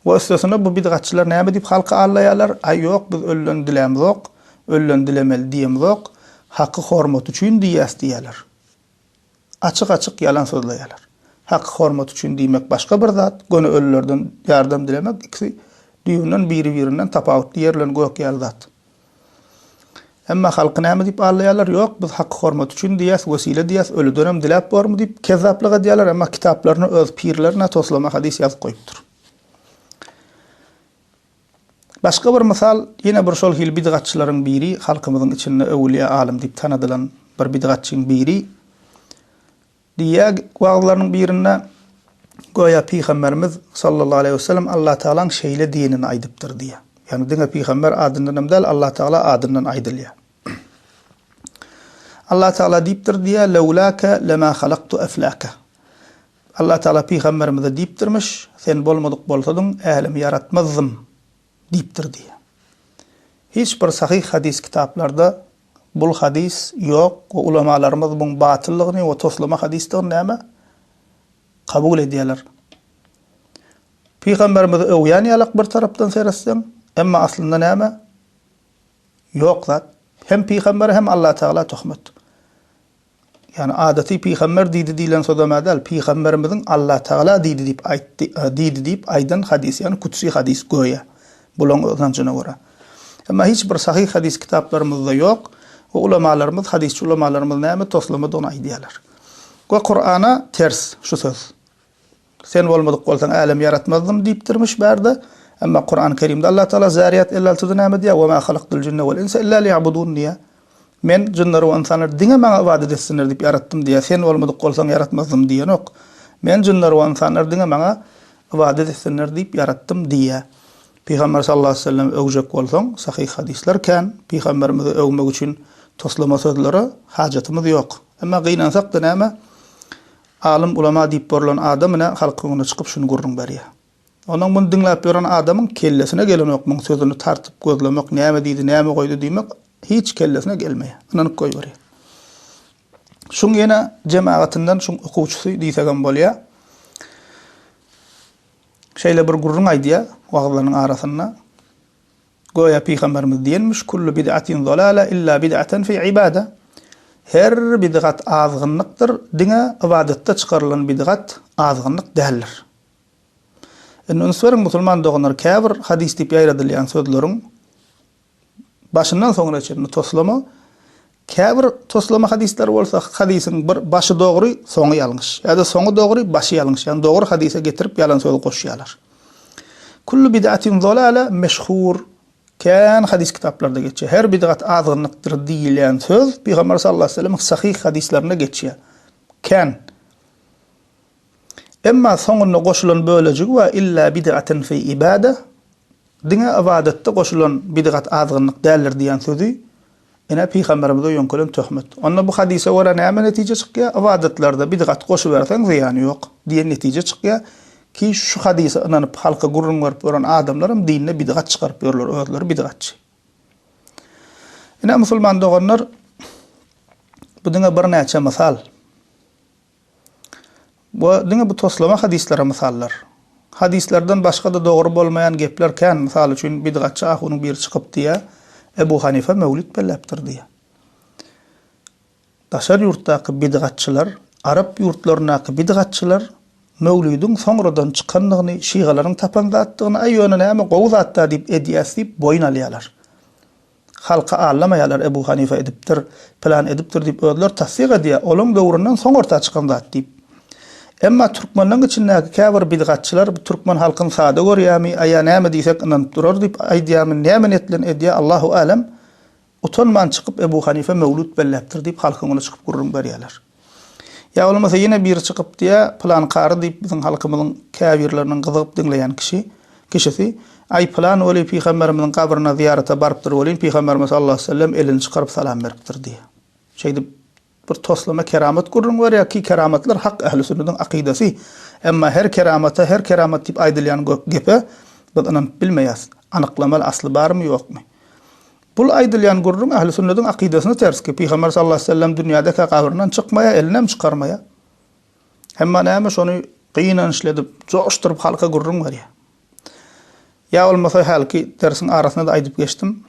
We üstesine bu bidgatçylar näme diýip halky aldaýarlar, Aý ýok, biz ölüden dilämzok, ölüden dilemeli diýemzok, haky hormaty üçin diýýäs diýýärler. açyk-açyk ýalan sozleýärler. Haky hormat üçin diýmek başga bir zat, göni ölülerden ýardam dilemek ikisi düýbünden biri-birinden tapawutly ýer bilen gök ýaly zat. Emma halky näme diýip aldaýarlar, ýok biz haky hormat üçin diýýäs, wesile diýýäs, ölüdenem diläp bormy diýip kezzaplyk edýärler, emma kitaplaryna öz pirlerine toslama hadys ýazyp goýupdyr. Başga bir mysal, ýene bir şol hili bidgatçylaryň biri, halkymyzyň içinde öwülýä alym diýip tanadylan bir bidgatçyň biri diýýä wagyzlarynyň birinde, Göýä Pygamberimiz sallallahu aleýhi wesellem Allatagalaň şeýle diýenini aýdypdyr diýýä. Ýagny diňe pygamber adyndan hem däl, Allatagala adyndan aýdylýa. Allatagala diýipdir diýýä, Lewläke lemä halaktu efläke. Allah Tagala pygamberimize diýipdirmiş, Sen bolmadyk bolsadyň, älemi ýaratmazdym diýipdir diýýär. Hiç bir sahyh hadys kitaplarda bul hadys ýok we ulamalarymyz buň batyllygyny we toslama hadysdygyny näme? Kabul edýärler. Pygamberimizi öwýän ýalak bir tarapdan seretseň, emma aslynda näme? Ýok zat. Hem pygambere hem Allah Tagala töhmet. Ýagny adaty pygamber diýdi diýlen sozam-ä däl, pygamberimiziň Allatagala diýdi diýip aýtdy, diýdi diýip aýdan hadys, ýagny kutsi hadys göýä, bularyň ynanjyna görä. Emma hiç bir sahyh hadys kitaplarymyzda ýok we ulamalarymyz, hadysçy ulamalarymyz näme toslamadygyny aýdýarlar. We Kur'ana ters şu söz. Sen bolmadyk bolsaň älemi ýaratmazdym diýipdirmiş bärde. Emma Kurany Kerimde Allah Taala Zäriyat elli altyda näme diýýär? Ve ma halaktul jinne vel insa illa liýabudun diýýär. Men jynlary we ynsanlary diňe Maňa ybadat etsinler diýip ýaratdym diýýär. Sen bolmadyk bolsaň ýaratmazdym diýenok. Men jynlary we ynsanlary diňe Maňa ybadat etsinler diýip ýaratdym diýýär. Pygamber sallallahu aleýhi ve sellemi öwjek bolsaň, sahyh hadyslar kän. Pygamberimizi öwmek üçin toslama sözlere hajatymyz ýok. Emma gynansak-da näme? Alym, ulama diýip borulan adam ine halkyň öňüne çykyp şuny gürrüň berýär. Onuň muny diňläp ýören adamyň kellesine gelenok muň sözüni tartyp gözlemek, näme diýdi, näme goýdy diýmek hiç kellesine gelmeýär. Ynanyp goýberýär. Şuň ýene jemagatyndan şuň okuwçysy diýsegem bolýar. Şeýle bir gürrüň aýdýar wagyzlarynyň arasynda. Göýä pygamberimiz diýenmiş, Kullu bid'atin zolala illa bid'aten fi ibada, Her bid'at azgynlykdyr, diňe ybadatda çykarylan bid'at azgynlyk däldir. Indi üns beriň musulman doganlar, käbir hadys diýip ýaýradylýan sözleriň başyndan soňuna çenli toslama, Käbir toslama hadyslar bolsa hadysyň bir başy dogry, soňy ýalňyş, ýa-da soňy dogry, başy ýalňyş, ýagny dogry hadysa getirip ýalan söz goşýarlar. Kullu bid'atin zolala meşhur, kän hadys kitaplarda geçýär. Her bid'at azgynlykdyr diýilýän söz Pygamber sallallahu aleyhi we sellemiň sahyh hadyslarynda geçýär. Kän. Emma soňunda goşulan bölejigi bar, Illa bid'aten fi ibada, Diňe ybadatda goşulan bidgat azgynlyk däldir diýen sözi, ine, pygamberimize ýöňkelen töhmet. Onda bu hadysa görä näme netije çykýar? Ybadatlarda bidgat goşuberseň zyýany ýok diýen netije çykýar. Ki şu hadysa ynanyp halka gürrüň berip ýören adamlaram dinde bidgat çykaryp ýörler, özleri bidgatçy. Ine, musulman doganlar, bu diňe birnäçe mysal. Bu diňe bu toslama hadyslary mysallar. Hadyslardan başga-da dogry bolmaýan gepler kän, mysal üçin, bidgatçy ahunyň biri çykyp diýýär, Ebu Hanife möwlüt belläpdir diýýär. Daşary ýurtdaky bidgatçylar, arap ýurtlaryndaky bidgatçylar möwlüdiň soňradan çykandygyny, şygalaryň tapan zatdygyny, aý ýöne näme, gowy zat-da diýip edýäs diýip boýun alýarlar. Halky aldamaýarlar Ebu Hanife edipdir, pylan edipdir diýip özleri tassyk edýär, olaň döwründen soň orta çykan zat diýip. Emma türkmenleň içindäki käbir bidgatçylar bu türkmen halkyny sada görýärmi, aýa näme diýsek ynanyp durar diýip aýdýarmy, näme niýet bilen edýär Allahu älem, utanman çykyp Ebu Hanife möwlüt belläpdir diýip halkyň öňüne çykyp gürrüň berýärler. Ýa bolmasa ýene biri çykyp diýýä, Pylan kary diýip biziň halkymyzyň käbirleriniň gyzygyp diňleýän kişi, kişisi, Aý pylan weli pygamberimiziň gabryna zyýarata barypdyr welin, pygamberimiz sallallahu aleýhi wesellem elini çykaryp salam beripdir diýýä. Şeýdip bir toslama keramat gürrüň berýär ki keramatlar hak ähli sünnetiň akydasy. Emma her keramata her keramat diýip aýdylýan gepe biz ynanyp bilmeýäs. Anyklamaly asly barmy ýokmy. Bul aýdylýan gürrüň ähli sünnediň akydasyna ters ki, Pygamber sallallahu aleyhi ve sellem dünýädekä gabryndan çykmaýa, elinem çykarmaýa. Hemma näme şony gynançly edip, joşduryp halka gürrüň berýä. Ýa bolmasa hälki dersiň arasynda-da aýdyp geçdim,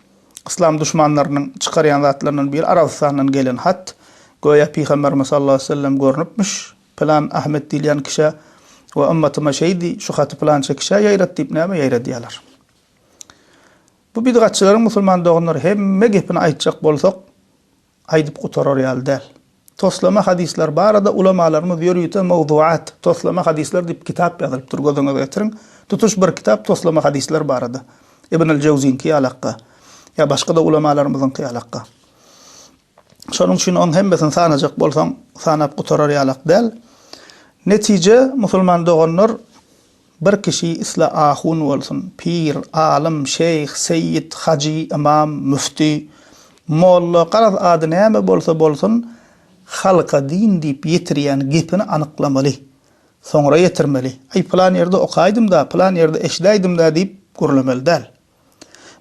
yslam duşmanlarynyň çykarýan zatlaryndan biri Arabystandan gelen hat, göýä Pygamberimiz sallallahu aleyhi ve sellem görnüpmiş, pylan Ahmet diýilýän kişä we ymmatyma şeý diý, şu haty pylança kişä ýaýrat diýip näme ýaýradýalar. Bu bidgatçylaryň musulman doganlar hemme gepini aýtjak bolsak aýdyp gutarar ýaly däl. Toslama hadyslar barada ulamalarymyz ýörite Mawzuat, toslama hadyslar diýip kitap ýazylypdyr gözüňize getiriň. Tutuş bir kitap toslama hadyslar barada. Ibn al-Jawzyňki ýaly hakga. Ýa başga-da ulamalarymyzyňky ýaly hakga. Şonuň üçin oň hemmesini sanajak bolsaň sanap gutarar ýalak däl. Netije musulman doganlar. Bir kişi isle ahun bolsun, pir, alym, şeýh, seýit, hajy, ymam, müfti, molla, garaz ady näme bolsa bolsun, halka din diýip ýetirýän gepini anyklamaly. Soňra ýetirmeli. Aý, pylan ýerde okaýdym-da, pylan ýerde eşidäýdim-da diýip gürlemeli däl.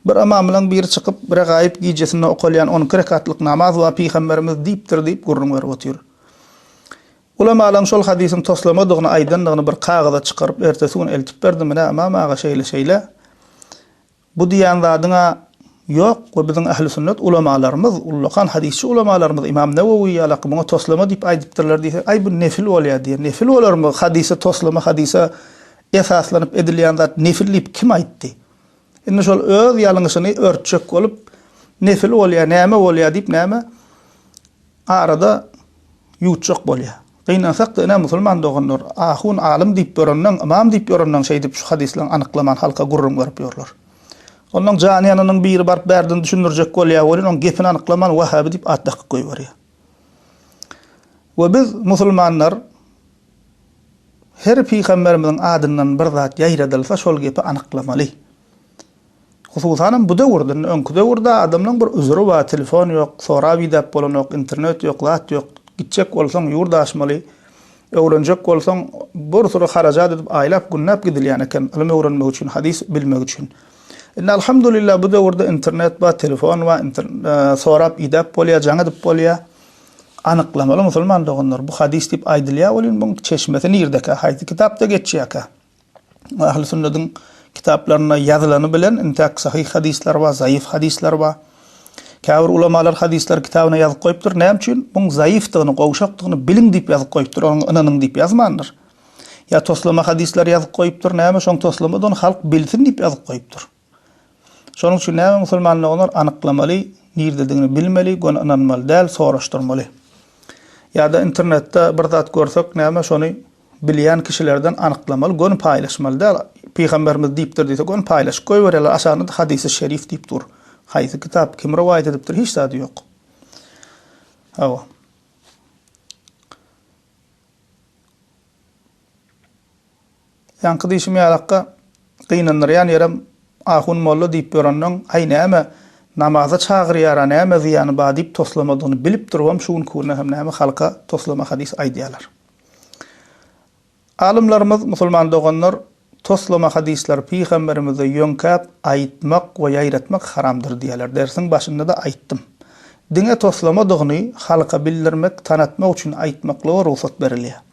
Bir ymamlaň biri çykyp, Regaýyp gijesinde okalýan on iki rekatlyk namaz we Pygamberimiz diýipdir diýip gürrüň berip otyr. Ulamalaň şol hadysyň toslamadygyny aýdandygyny bir kagyza çykaryp ertesi gün eltip berdim, Ine, ymam aga şeýle-şeýle. Bu diýýän zadyň-a ýok we biziň ählisünnet ulamalarymyz, ullakan hadysçy ulamalarymyz Ymam Newewi ýalaky muňa toslama diýip aýdypdyrlar diýse, Aý, bu nefil bolýar diýer. Nefil bolarmy, hadysa toslama, hadysa Esaslanyp edilýän zat nefil diýip kim aýtdy? Indi şol öz ýalňyşyny örtjek bolup, nefil bolýar, näme bolýar diýip näme arada ýuwutjak bolýar. Gynansak-da ine musulman doganlar, ahun, alym diýip ýörenleň, ymam diýip ýörenleň şeýdip şu hadyslaryň anyklaman halka gürrüň berip ýörler. Onlaň jany ýananyň biri baryp bärden düşündirjek bolýar welin oň gepini anyklaman wahabi diýip at dakyp goýberýär. We biz musulmanlar, Her pygamberimiziň adyndan bir zat ýaýradylsa şol gepi anyklamaly. Hususanam bu döwürde, indi öňki döwürde adamlaň bir üzüri bar, telefon ýok, sorap idäp bolanok, internet ýok, zat ýok, gitjek bolsaň ýurt aşmaly, öwrenjek bolsaň bir süri harajat edip aýlap, günläp gidilýän eken ylym öwrenmek üçin, hadys bilmek üçin. Indi alhamdulillah bu döwürde internet bar, telefon bar, sorap idäp bolýar, jaň edip bolýar. Anyklamaly musulman doganlar, bu hadys diýip aýdylýar welin, muň çeşmesi nirdekä, haýsy kitapda geçýärkä? Ähli sünnediň kitaplarynda ýazylany bilen, intäk sahyh hadyslar bar, zaýyf hadyslar bar. Käbir ulamalar hadyslar kitabyna ýazyp goýupdyr, näme üçin? Muň zaýyfdygyny, gowşakdygyny biliň diýip ýazyp goýupdyr, oňa ynanyň diýip ýazmandyr. Ýa toslama hadyslar ýazyp goýupdyr, näme, şoň toslama-da ony halk bilsin diýip ýazyp goýupdyr. Şonuň üçin näme musulmanlar olar anyklamaly, nirdedigini bilmeli, göni ynanmaly däl, soraşdyrmaly. Ýa-da internetde bir zat görsek näme şony bilýän kişilerden anyklamaly, göni paýlaşmaly däl. Pygamberimiz diýipdir diýse göni paýlaşyp goýberýärler, aşagynda-da hadysy şerif diýip dur. Haýsy kitap, kim rowaýat edipdir, hiç zady ýok. Hawa. Ýaňky diýşim ýalakka, gynandyrýan ýerem ahun molla diýip ýörenleň, aý näme, namaza çagyrýara näme zyýany ba diýip toslamadygyny bilip durubam şu günki günde hem näme halka toslama hadys aýdýalar. Alymlarymyz, musulman doganlar, toslama hadyslar pygamberimize ýöňkäp aýytmak we ýaýratmak haramdyr diýýäler, dersiň başynda-da aýytdym. Diňe toslamadygyny halka bildirmek, tanatmak üçin aýytmaklyga rugsat berilýär.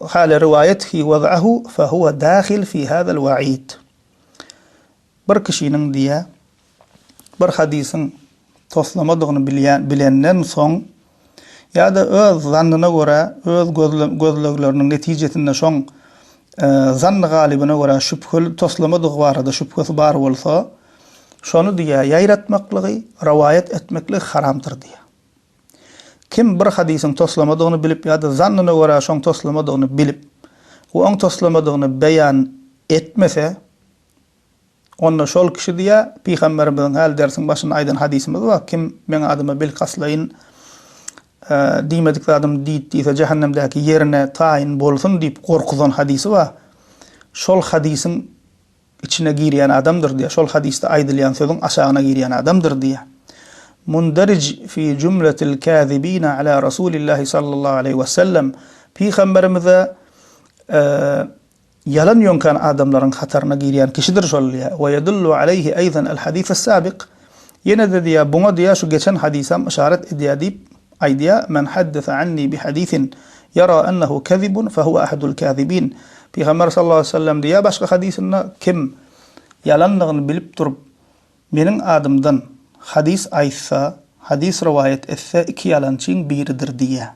Haly riwaýat fi waz'ahu fa huwa dahil fi hazal wa'id. Bir kişiniň diýä bir hadysyň toslamadygyny bilýän bilenden soň ýa-da öz zannyna görä öz gözlegleriniň netijesinde şoň zanny galybyna görä şübheli toslamadygy barada şübhesi bar bolsa şony diýä ýaýratmaklygy, rowaýat etmekligi haramdyr diýä. Kim bir hadysyň toslamadygyny bilip ýa-da zannyna görä şoň toslamadygyny bilip we oň toslamadygyny beýan etmese, onda şol kişi diýýär, Pygamberimiziň häli dersiň başynda aýdan hadysymyz bar, Kim meň adyma bilkastlaýyn diýmedik zadymy diýt diýse, jähennemdäki ýerine taýyn bolsun diýip gorkuzan hadysy bar. Şol hadysyň Içine girýän adamdyr diýýär. Şol hadysda aýdylýan sözüň aşagyna girýän adamdyr diýýär. Munderij fi jumletil kazibina ala Rasulillahi sallallahu aleýhi we sellem, Pygamberimize ýalan ýoňkan adamlaryň hataryna girýän kişidir şol diýýär. Wa yedullu aleýhi aýdan al-hadis as-sabiq, Ýene-de diýýär, buňa diýýär şu geçen hadysam yşarat edýär diýip, Aýdýa, Men haddese anni bi hadisin ýara ennehu kezibun fe huve ahadul kazibin, Pygamber sallallahu aleýhi we sellem diýýär başga hadysynda, Kim ýalandygyny bilip durup, meniň adymdan hadys aýtsa, hadys rowaýat etse, iki ýalançyň biridir diýýär.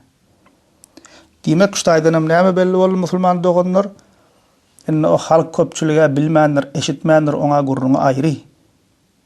Diýmek, şu taýdanam näme belli boldy musulman doganlar? Indi o halk köpçülige bilmändir, eşitmändir, oňa gürrüňi aýry.